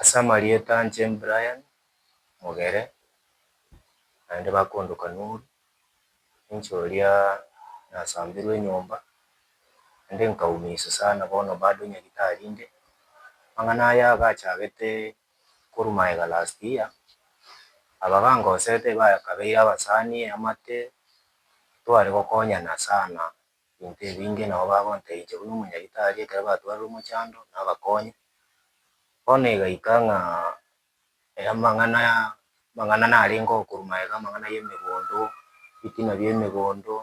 Ase amarieta anche Brian Mogere, naende bakondo Kanuru, ninche oria nasambirwe enyomba, naende nkaumisu sana bono bado nyagitari inde, amang'ana aya agachagete korwa magega last year, aba bangosete bakabeire abasani amate, tware gokonyana sana. Ebinto ebinge nabo bagonteithia buna omonyaritari ekero batwarire omochando, na abakonye. Bono egaika ng'a amang'ana amang'ana narenge okorwa magega, amang'ana y'emegondo, ebitina bi'emegondo,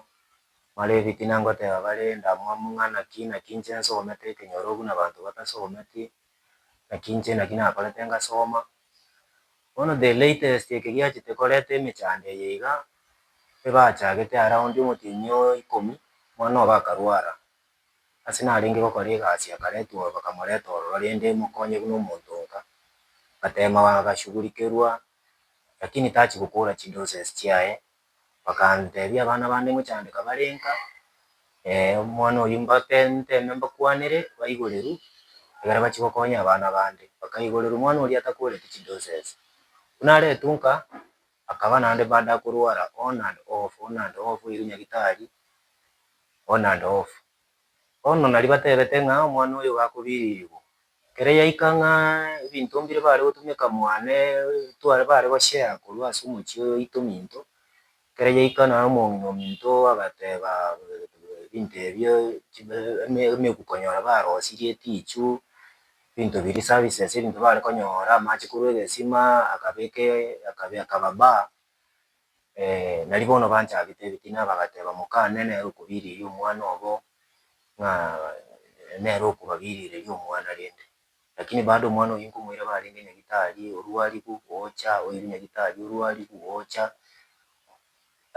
mare ebitina ngoteba bare ndamwamu ng'a naki naki inche nsomete ekenyoro buna abanto batosometi, Naki inche naki nakorete ngasoma, bono the latest eke giachete koreta emechando eye iga, ebachagete around omotienyi o ikomi, mwana obo akarwara, ase narenge gokora egasi akaretwa ororo bakamoreta ororo rende mokonye buna omonto nka, ngatema agashugurikerwa, lakini tachi gokora chidoses chiaye. Bakanteebia, Abana bande ngochandeka bare nka, ee, omwana oyio mbape nteme mbakwanere, baigoreru, ekero bachia gokonya abana bande. Bakaigoreru omwana oria atakworeti chidoses. Buna aretwe nka, akaba naende baada akorwara on and off, on and off, oirwe nyagitari, on and off. Bono nari batebete ng'a omwana oyo iga akobiririgwa, Ekero yaika ng'a ebinto mbire bare gotumeka mwane tware bare goshare korwa ase omochie oyo oito minto, ekero yaika naro omong'ina ominto agateba ebinto ebio chibe eme emegu konyora barosirie etichu, ebinto biria eservices ebinto bare konyora, amache korwa egesima akabeke akabe akaba bar. Nari bono banchabete ebitina, bagateba, Moka, nere nere okobiriria omwana obo, ng'a nere okobabirireria omwana rende. Lakini bado omwana oyio nkomoira barenge nyagetari, orwarigu, ocha, oire nyagetari, orwarigu, ocha.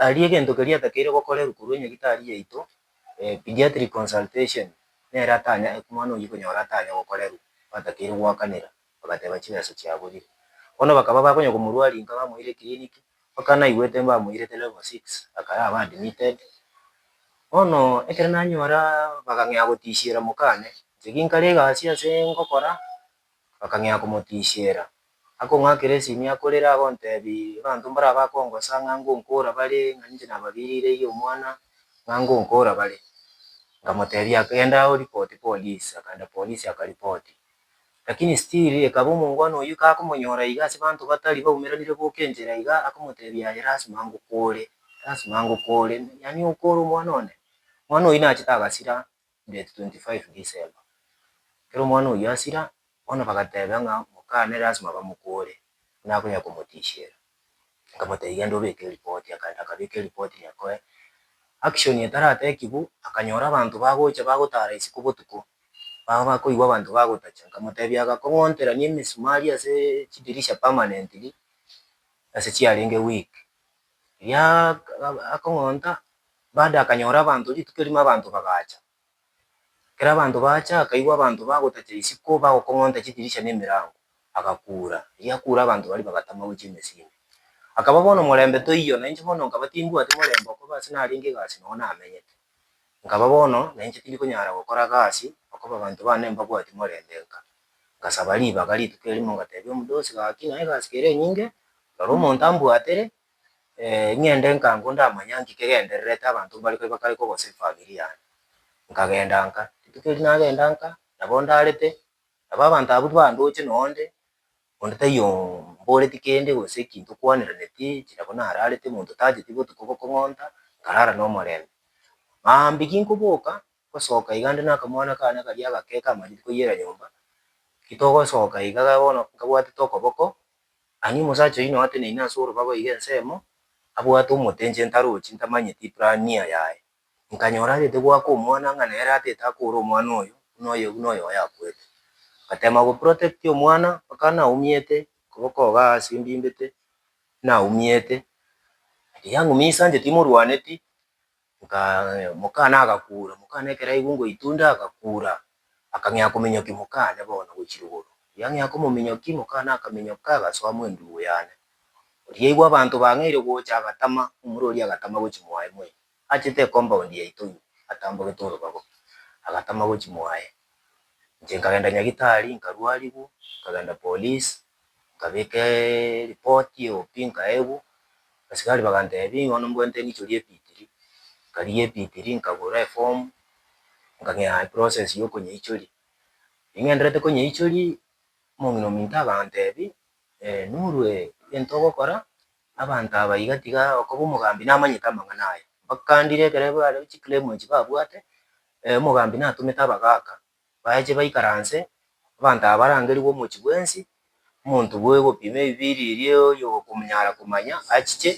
Aria egento keria atakeire gokorerwa korwa enyagetari yaito, pediatric consultation, nere atanya, omwana oyio konyora atanya gokorerwa, batakeire goakanera. bagateeba chingeso chiaborire. Bono bakaba bakonya komorua rinka bamoire kiriniki, mpaka naigwete mbamoirete level six, akaya aba admitted. Bono ekero nanyora bakang'ea gotishiera mokane, inche ginkare egasi ase ngokora, bakang'ea komotishiera, akong'akera esimi akorere agontebia abanto mbaria bakongosa ng'a ngonkora bare, ng'a ninche nababirireirie omwana, ng'a ngonkora bare. Nkamotebia genda oripoti polisi, akaenda polisi akaripoti. Lakini still ekaba omongwana oyio kakomonyora iga ase banto batari baumeranire goka enchera iga akomotebia aye lasima ngokore lasima ngokore yaani okore omwana one omwana oyio nachete agasira date 25 December ekero omwana oyio asira bono bagateba ng'a mokane lasima bamokore buna akonya komotisiera Nkamotebia genda obeke eripoti, akagenda akabeka eripoti riakoe. Action etaratekigwa akanyora abanto bagocha bagotara isiko botuko, baba bakoigwa abanto bagotacha, nkamotebia agakong'onterania emesumari ase chidirisha permanently ase chiarenge weak. Riria akong'onta, bado akanyora abanto rituko erimo abanto bagacha, Ekero abanto baacha, akaigwa abanto bagotacha isiko, bagokong'onta chidirisha na emerango, agakuura. Erio akuura abanto baria bagatama gochia emesindi. Akaba bono morembe toiyo, na inche bono nkaba timbwati morembe okobe ase narenge egasi noo namenyete. Nkaba bono na inche tindi konyara gokora gasi, okobe abanto baane mbabwati morembe nka. Ngasaba ribaga rituko erimo ngatebia omodosi, Gaki naye egasi kere enyinge, rora omonto ambwatere, ng'ende nkango ndamanya nki kegendererete abanto mbare kore bakare kogosa efamiri yane. Nkagenda nka, rituko erio nagenda nka, nabo ndarete, nabo abanto abwo bandoche noo nde, onde taiyo mboreti kende gose ekinto kwaniraneti, inche nabo nararete monto tacheti botuko bokong'onta, nkarara nomorembe. Maambia ginkoboka, Gosoka iga ande nakamwana kaane karia agake kamanyete koiyera nyomba, Titogosoka iga ga bono nkabwatete okoboko, ang'e omosacha oyio noateneine ase orobago iga ensemo, abwate omotenche ntarochi ntamanyeti Ibrania yaye. Nkanyora arete goaka omwana ng'a nere atete akoore omwana oyo, buna oyo buna oyo oyakwete. Ngatema go protect omwana mpaka naumiete, okoboko iga ase mbimbete, naumiete. Riria ng'umia isancheti morwaneti, Nka, mokane agakura, mokane ekero aigwe ngoitunda agakura, akang'ea kominyoki mokane bono gochia igoro. Oria ang'ea komominyoki, mokane akaminyoka agasoa mwendugu yane. Oria aigwe abanto bang'eire gocha agatama, omura oria agatama gochia mwaye mwe, achete ecompoundi yaito ime, atambogete orobago, agatama gochia mwaye. Inche nkagenda Nyagitari, nkarwarigwa, nkagenda police, nkabeka eripoti eobi nkaegwa, abasigari bagantebia nigo bono mbwate nichori ebitiri, nkarigia ebitiri nkagora eform, nkang'ea eprocess ya okonyeichoria. Ning'enderete konyeichoria, omong'ina ominto agantebia, norue egento ogokora, abanto aba iga tiga okoba omogambi namanyete amang'ana aya, bakandire ekero bare chiclaim echi babwate, omogambi natomete abagaka. baeche baikaranse, abanto aba barangerigwe omochie bwensi, omonto bw'ogopima ebibiiri eria oyokomonyara komanya achiche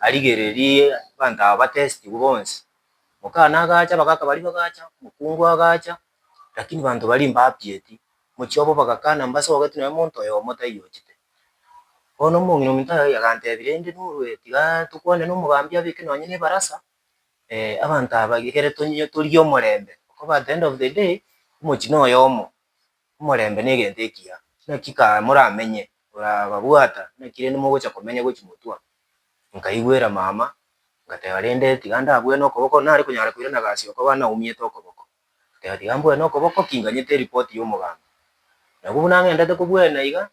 arigererie abanto aba batestigwe bonsi. Omokana agacha, abagaka baria bagacha, omokungu agacha, lakini abanto baria mbapieti, mochie obo bagakana mbase ogoketwa nonya omonto oyomo taiyo ochete. Bono omong'ina ominto agantebia rende norue tiga tokwane nomogambi abeke nonye nebarasa, eh, abanto aba ekere tonye torie omorembe, okoba at the end of the day omochino oyomo, omorembe negento ekiya, naki kaa moramenye orababwata naki rende mogocha komenya gochi motwa, nkaigwera mama, ngateba rende tiga ndabue nokoboko, nare konyara koirana gasi okoba naumiete okoboko. Agotebia ati, Gambue nokoboko kinganyete eripoti y'omoganda. Nabwo buna ng'endete kobwene iga,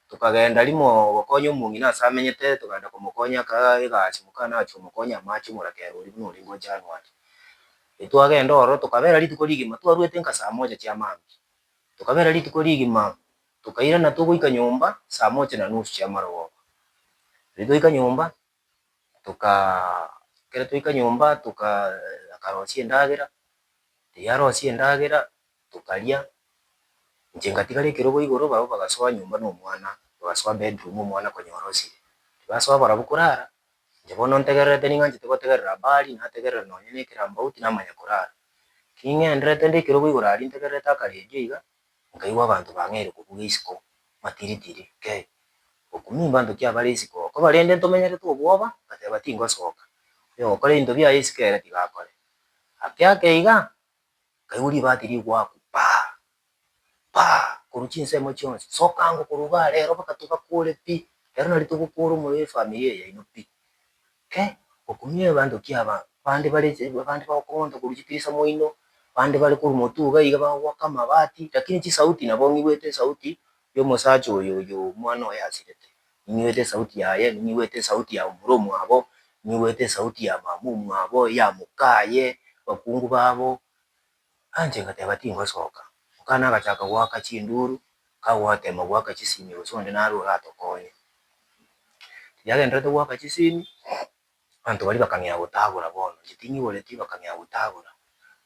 tokagenda rimo gokonya omong'ina ase amenyete, togaenda komokonya akaga egasi moka nachia komokonya amache omorakera oria buna orenge o January. Ritwagenda ororo tokabera rituko rigima twarwete nka saa moja chia maambia. Tokabera rituko rigima tokairana togoika nyomba saa moja na nusu chia amarogoba. Riria twaika nyomba, ekero twaika nyomba akarosia endagera, riria arosia endagera tokaria, inche ngatigara ekerogo igoro barabwo bagasoa nyomba na omwana, bagasoa bedroom omwana konya orosire. Basoa barabwo korara, inche bono ntegererete ning'anchete gotegerera habari, nategerera nonye na ekerambe auti namanya korara. Ki ng'enderete nde ekerogo igoro aria ntegererete akaredio iga, Nkaigwa abanto bang'aire kobuga isiko, matiritiri, Kei! Okumimba abanto ki abare isiko okoba rende ntomenyerete obwoba? Ngateba, Tingosoka. Oyogokora ebinto biaye isiko ere tiga akore. Ake ake iga, nkaigwa ribati rigoaku, Paa! Paa! korwa chinsemo chionsi, Sokango korwa igaa rero mpaka togakore pi, rero nari togokora omorero efamiri eye yaino pi. Ke, gokumia egeanto ki'abanto. Bande bare abande bagokong'onta korwa chitirisa moino, bande bare korwa motu iga iga bagogoaka amabati, lakini chisauti nabo ng'igwete esauti y'omosacha oyo oyo omwana oye asirete, ning'igwete esauti yaye, ning'igwete esauti ya omura omwabo, ning'igwete esauti ya mama omwabo, ya mokaye, abakungu babo. Nainche ngateba, Tingosoka. Mokane agachaka goaka chinduru, kagotema goaka chisimi gose onde naro oratokonye. Riria agendererete goaka chisimi, abanto baria bakang'ea gotagora bono, inche ting'iboretie bakang'ea gotagora.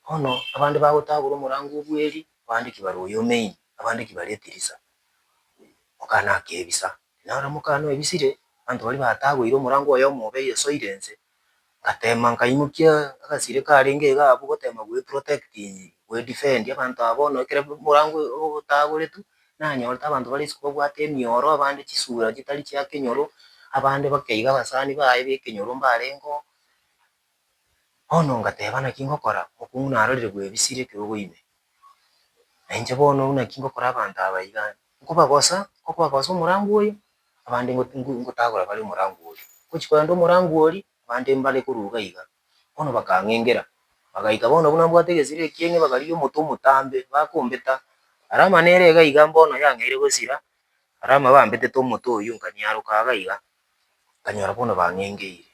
Bono abande bagotagora omorango o bweri, abande ki bare oyo o main, abande ki bare etirisa. Mokane akebisa. Naro mokane oebisire, abanto baria batagoire omorango oyomo obe oyesoire inse, Ngateema nkaimokia agasire karenge iga abwo goteema gweprotect, gwedefend abanto aba bono ekero omorango otagoretwe, nanyorete abanto bare isiko babwate emioro, abande chisura chitari chia kenyoro, abande bakeiga abasani baye b'ekenyoro mbarengeo. Bono ngateba naki ngokora, omonto narorire bwebisire ekero okoime. Nainche bono buna ki ngokora abanto aba iga, nkobagosa, nkobagosa omorango oyo, Abande ngotagora bare omorango oria. Ngochia korenta omorango oria, abande mbare koruga iga. Bono bakang'engera, bagaika bono buna mbwate egesira ekieng'e bakarigia omote omotambe, bakombeta. Alama nere iga iga mbono yang'eire gosira, Alama bambetete omote oyio nkanyaroka iga iga, nkanyora bono bang'engeire.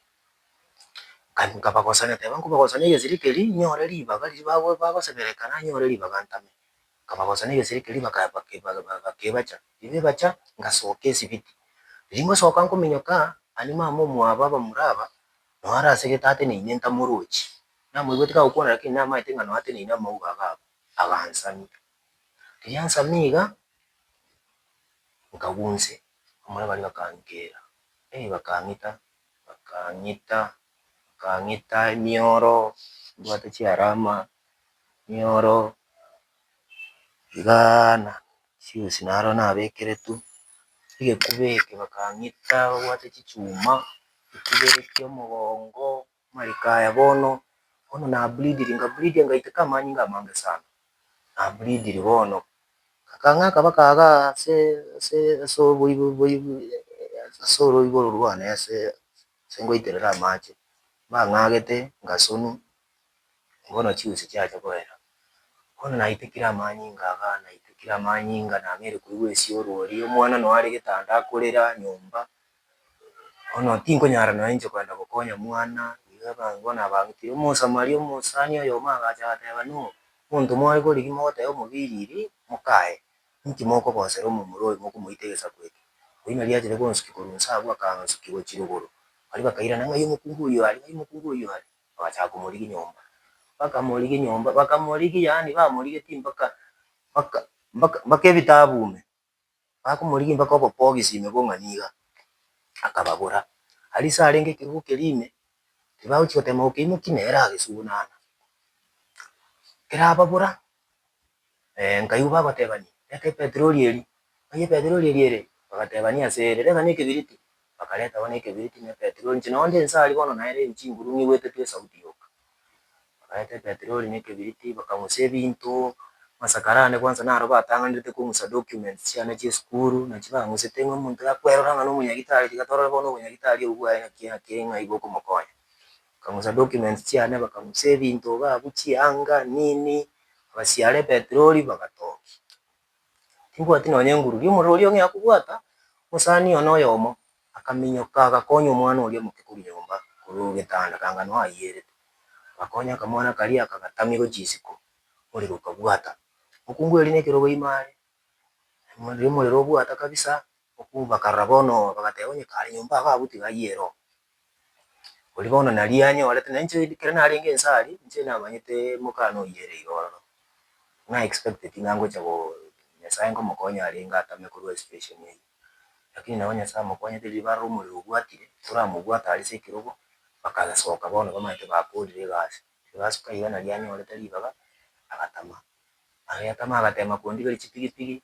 Nkabagosera, nkoteba nkobagosera na egesira keria, nyore ribaga riria bagoseberekana, nyore ribaga ntame. Nkabagosa negeseri keria bakebacha, tibebacha, ngasoka esibiti. Riria ngosoka nkominyoka ani mama omwabo abamura aba, noo are ase egetate na ine ntamorochi. Namoigweti kagokwana lakini namaete ng'a noateneine amauga iga abwo, agansamia. Riria ansamia iga, nkagwa inse, abamura baria bakankera, eh bakang'ita, bakang'ita, bakang'ita emioro, mbwate chiarama, Nioro iga na chionsi naro nabekeretwe, egekuba eke bakang'ita babwate chichuma, ekibereti omogongo, amariko aya bono, bono na bleediri, nga bleedia ngaiteka amanyinga amange sana, na bleediri bono, bakang'aka baka iga ase ase ase oboibo boibo ase oroiboro rwane ase ngoiterere amache, bang'agete ngasunwa. Bono chiusi chiacha koera. Bono naitekire amanyinga aga, naitekire amanyinga, nameri koigwa esioro oria, omwana nonya are getanda akorera nyomba. Bono tinkonyara nonya inche kogenda gokonya mwana, iga abange bono abang'itire. Omosamaria omosani oyomo agacha agateba, No, monto more korigi mogotebia omobiriri, mokaye, inki mokogosera omomura oyo mokomoita egesaku eke? Oyio nari achete gonsukia korwa inse abwo, akansukia gochia rogoro. Baria bakairana, Ng'ai omokungu oyio are? Ng'ai omokungu oyio are? Bagachaka komorigia nyomba, bakamorigia nyomba, bakamorigia yaani bamorigetie mpaka mpaka mpaka mpaka ebitabu ime, bakomorigia mpaka obobogisi ime bong'a niga, akababora. Aria ase arenge ekerogo keria ime, tibagochi gotema gokeimokia nere agesugunana. Kerababora Eh, nkaigwa bagotebania, Reta epetroli eria. Baiyia epetroli eria ere, bagatebania ase ere, Reta nekebiriti. Bakareta bono ekebiriti na epetroli, inche nao nde inse aria bono naereo ebi chinguru ng'igwete tu esauti yoka. Bakareta epetroli na ekebiriti, bakang'usa ebinto, masakara ande kwansa naro batang'anerete kong'usa documents chiane chia esukuru, nachio bang'usete ng'a omonto yakwerora ng'a nomonyagitari, tiga torore bono obonyagitari obwo bwaye naki naki ng'a igo okomokonya. Bakamosa documents chiane bakamosa ebinto iga abwo chianga nini abasiara epetroli bagatokia. Timbwati nonya enguru riria omorero oria ong'ea kobwata omosani one oyomo akaminyoka agakonya omwana oria omoke korwa nyomba korwa getanda kanga noo ayierete agakonya akamwana karia akagatamigwa chisiko omorero okabwata. Mokungu erio nekerogo ime are riria omorero obwata kabisa mokungu bakarora bono bagateba onye kare nyomba iga abwo tiga ayiere oo Oria bono naria anyorete, na inche ekero narenge inse aria, inche namanyete mokana oyio ere iga ororo, na expecteti ng'a ngocha go Nyasae nkomokonya arenge atame korwa situation eyio. Lakini nabo Nyasae amokonyete riria barora omorero obwatire, toramobwate aria ase ekerogo, bakasoka bono bamanyete bakorire egasi. Riria basoka iga naria anyorete ribaga, agatama. Aria atama agateema kondigeria chipigipigi.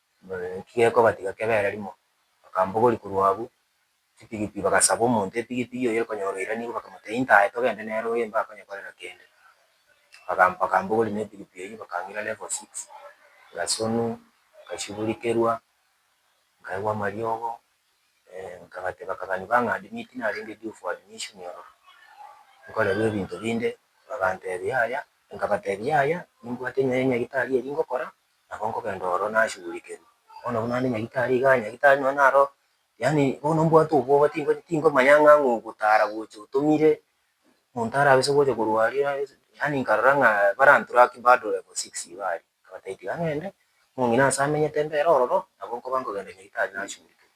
Ki gekobatiga kebere rimo? Bakambogori korwa abu chitigiti, bagasaba omonto etigiti oye konyora oiranikwa, bakamotebia intae togende nere oye mba akonyekorera kende. Baga bakambogori ne etigiti eyio bakang'ira level six, ngasunwa, ngasiburikerwa, nkaigwa amariogo, nkagate bakagani bang'adimia eki narenge due for admission ororo, nkorerwa ebinto binde, bagantebia yaya, nkabatebia yaya, nimbwate enyo ya nyagitari eri ngokora, nabo nkogenda oro nashughulikerwe. Bono buna ande nyagetari igaa, nyagetari nonye naro yaani bono mbwate obwoba tinko tingomanya ng'a ng'a ogotara gocha otomire, monto arabise gocha korwaria arabise yaani nkarora ng'a barantura ki bado level six iga aria, nkabataebia tiga ng'ende, omong'ina ase amenyete mbere ororo, nabo nkoba nkogenda nyagetari nashughulikerwa.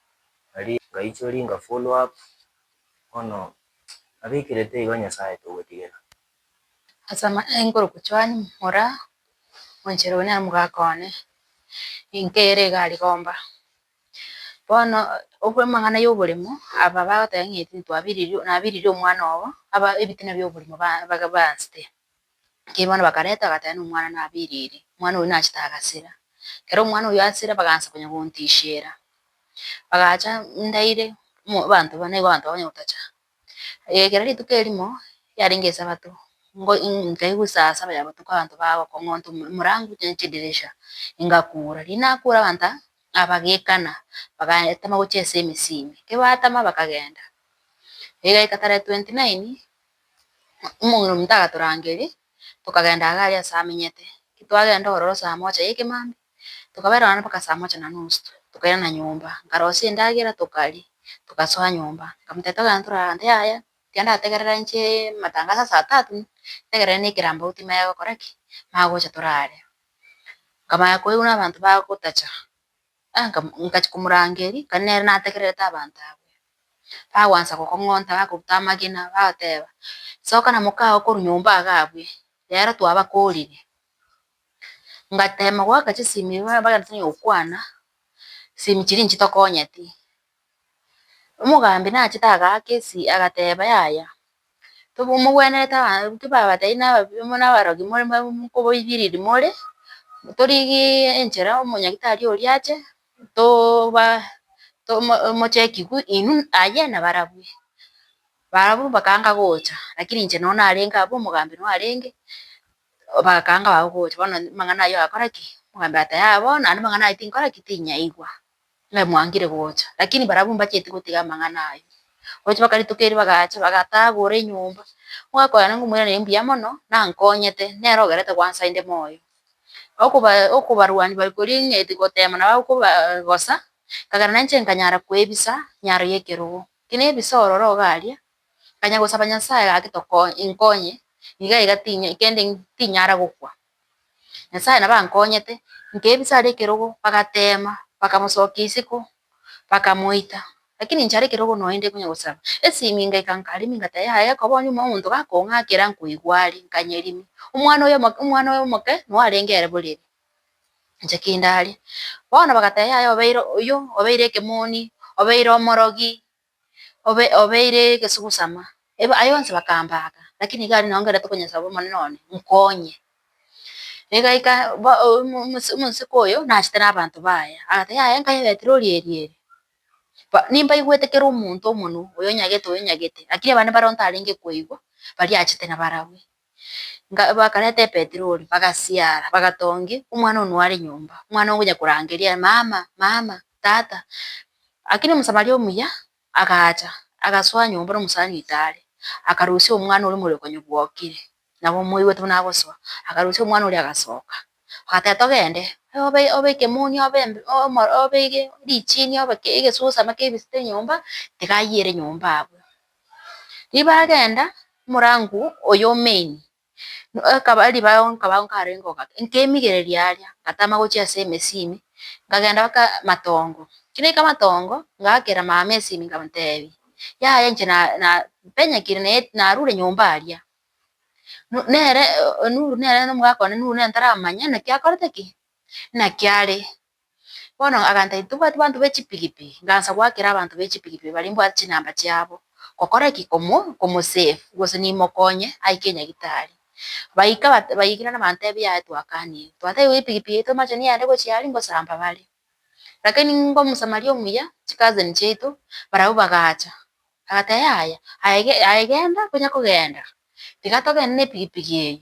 Nari ngaichori inga follow up, bono nabikirete igo Nyasaye togotigena. Ase amayengo orogochwani mora monchero oyo nere mogaka one, enka ere iga ari gomba. Bono obwe amang'ana y'oboremo aba bagoteba ng'a eti ntwabiririo nabiririe omwana obo aba ebitina bi'oborimo ba baga bansete. Ekiagera bono bakareta bagateba nomwana nabeire ere, omwana oyio nachete agasira. Ekero omwana oyio asira bagansa konya gontishera, bagacha ndaire mo abanto ba nigo abanto bakonya gotacha. Egekera rituko erimo yarenge esabato, ngo nkai gosasa baya botuko abanto bagokong'onto emo emorango chinsa chidirisha, engakura. Riria nakura abanto aba abagekana bagatama gochia ase emisimi, ekebatama bakagenda. Egeka tarehe twenty nine, Omong'ina omonto agatorangeria, tokagenda iga aria aase amenyete. Titwagenda ororo saa moja ya ekemambia, tokaba ereo mpaka saa moja na nusu, tokairana nyomba, nkarosia endagera tokaria, togasoa nyomba. Nkamotebia togende tore ahanto, yaya, tiga ndategerere inche amatangaso ya saa tatu, ntegerere na ekerambauti magokora ki? Magocha tore aria. Nkamanya koigwa na abanto bagotacha. Ngachia komorangeria ekero nere nategererete abanto abwo, bagwansa gokong'onta bakoruta amagena bagoteba, soka na mokao korwa nyomba iga abwe, rero twabakoorire. Ngatema goaka chisemi, bagenda tari gokwana, chisemi chiria nchitokonyeti. Omogambi nachete agaaka esi, agateba, Yaya, tobo mogwenerete aba intwe babatebi na ababi amo na abarogi more mwa mokoboibiriri more, torigiiee enchera omonyagitari oria ache, toba tomo mocheki gu inwe aye na barabwo. Barabwo bakaanga gocha, lakini inche no narenge abwo omogambi no arenge, bakaanga barabwo gocha, bono amang'ana ayio agakora ki? Omogambi agateba, Yaya bono, naende amang'ana ayio tinkora ki? Tinyaigwa. Inwe mwangire gocha. Lakini barabwo mbacheti gotiga amang'ana aye. Gocha bakaritoka erio bagacha, bagatagora enyomba. Ogakoerana ng'a omwene nere mbuya mono, nankonyete, nere ogerete gwansa inde moyo. Okoba okobarwani bari koria ng'eti gotema nabo akoba gosa, nkagera nainche nkanyara koebisa nyaro y'ekerogo. Kinebisa ororo ogaria, nkanya gosaba Nyasaye gaki tokonye inkonye, iga iga tinya kende tinyara gokwa. Nyasae nabo ankonyete, nkebisa are ekerogo bagateema, bakamosokia isiko, bakamoita. Lakini inche are ekerogo noende konya gosaba, esiminga eka nkarimi ngata yaye ekoba onye ime omonto gakong'akera nkoigwa are, nkanyerimia. Omwana oyo omoke omwana oyo omoke noyo arenge ere borere, inche kindare. Bono bagateba yaye obeire oyio, obeire ekemoni, obeire omorogi, obe obeire egesugusama. Eba aye onsi bakambaka, lakini iga aria nongerete konyesaba Omonene one, nkonye. Egaika ba omo omosi omosike oyo nachete nabanto baye, agoteba, yaya enka ya Betero oria eria ere, ba nimbaigwete kera omonto omonwa, oyonyagete oyonyagete, lakini abande bare ontarenge koigwa, baria achete nabarabwe. Bakareta epetroli, bagasiara, bagatongi omwana oyio noare nyomba, omwana ogocha korangeria mama, mama, tata. Lakini omosamaria omuya agacha, agasoa nyomba na omosani oitare, akarusia omwana oria omorero konya bwokire, nabo omoigwete buna agosoa, akarusia omwana oria agasoka, agateba togende, obe ekemoni, obe obe richiini, obe egesusa ama kebisete nyomba, tiga ayiere nyomba abwo. Ribagenda omorango oyo o main ekaba ribaao nkaba nkarenge ogaka nkemigereria aria ngatama gochia ase emesimi nkagenda mpaka matongo, ki naika matongo ngakera mama esimi nkamotebia yaya inche na na mpenyekire naye narure nyomba aria, nu nere nuru nere nomogaka one nuru nere ntaramanya naki akorete ki, naki are. Bono aganta titobwati banto be chipigipigi, ngansa goakera abanto be chipigipigi baria mbwate chinamba chiabo, gokora ki? Komo komosave gose nimokonye aike nyagitari. Baika bat baikire nabantebi yaya twakanire, twatebia epigipigi yaito mache neyende gochia aria ngosamba bare. Lakini ngo omosamaria omuya, chicousin chiaito, barabwo bagacha, agateba yaya, aye aye genda, konya kogenda, tiga togende nepigipigi eye,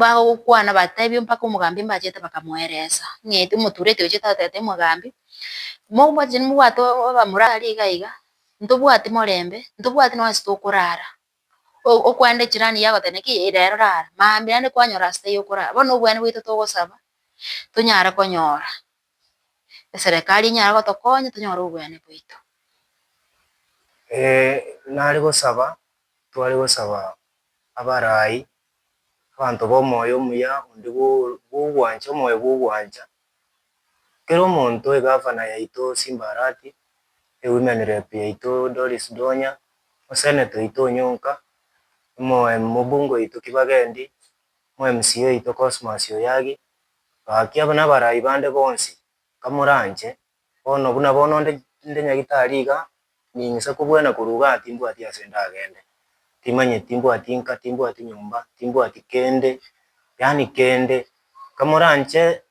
bagokwana batebie mpaka omogambi mbachete bakamoeresa ng'a eti omotureti oye tatete omogambi, mobwate mobwate abamorari iga iga, ntobwati morembe, ntobwati nonye ase tokorara, okwenda echirani yagoteba ki rero rara, mambia yande kwanyora asete yokorara, bono nobweani bwaito togosaba tonyare konyora. eserekari enyare gotokonya tonyore obweani bwaito. Nare gosaba, tware gosaba abarai, abanto bomoyo omuya onde bwo- bwogwancha, omoyo bwogwancha, kera omonto, egavana yaito Simba Arati, ewomen rep yaito Doris Donya, osenator oito Onyonka, omo- em- omobunge oito Kibagendi, omwe mca oito Cosmas Oyagi. Ngaakia nabarai bande bonsi, nkamoranche. Bono buna bono onde inde nyagitari iga, ning'isa kobwena korwa iga aa timbwati ase ndagende. Timanyeti, timbwati inka, timbwati nyomba, timbwati kende, yaani kende. Nkamoranche,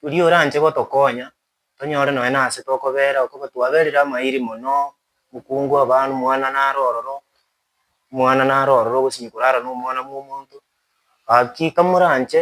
oria oranche gotokonya, tonyore nonya nase tokobeera, okoba twaberire amairi mono, mokungu abana, omwana nare ororo, omwana nare ororo, ogosinywa korara nomwana bwomonto. Ngaki nkamoranche.